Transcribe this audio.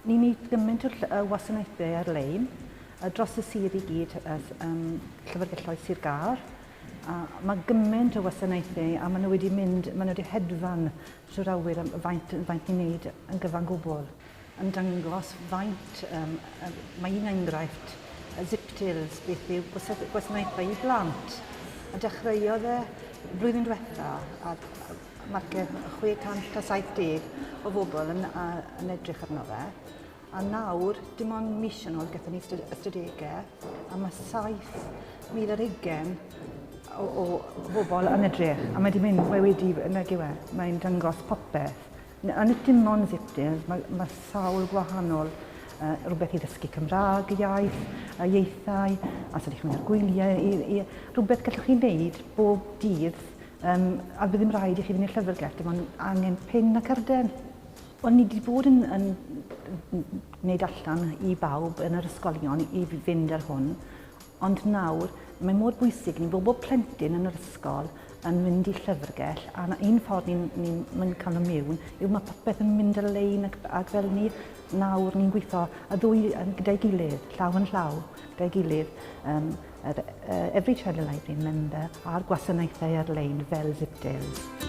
Ni wneud gymaint o y wasanaethau ar-lein a dros y sir i gyd as um, llyfrgelloedd Sir Gâr. A mae gymaint o wasanaethau a maen nhw wedi mynd, maen nhw wedi hedfan trwy'r awyr am faint, faint ni'n wneud yn gyfan gwbl. Yn dangos faint, um, mae un enghraifft, y ziptails, beth yw gwasanaethau i blant. A dechreuodd e flwyddyn diwetha a Mae'r 670 o bobl yn, a, yn edrych arno fe, a nawr, dim ond mis yn ôl, gyda ni ystadegau, a mae 7,000 ar ugen o, o bobl yn edrych, a mae wedi mynd, mae wedi, yna gywe, e, mae'n dangos popeth. A nid dim ond zipdins, mae, mae sawl gwahanol uh, rhywbeth i ddysgu Cymraeg, iaith, a ieithau, a sut i chi'n mynd ar gwyliau, i, i, rhywbeth gallwch chi wneud bob dydd Um, a bydd ddim rhaid i chi fynd i'r llyfrgell, dim ond angen pin a cyrden. Wel, ni wedi bod yn, yn, yn gwneud allan i bawb yn yr ysgolion i fynd ar hwn, ond nawr mae mor bwysig ni bod bob plentyn yn yr ysgol yn mynd i llyfrgell a na un ffordd ni'n ni, ni cael y miwn yw mae popeth yn mynd ar lein ac, ac fel ni nawr ni'n gweithio y ddwy gyda'i gilydd, llaw yn llaw gyda'i gilydd um, yr uh, Every Child a Library member a'r gwasanaethau ar-lein fel Zipdale.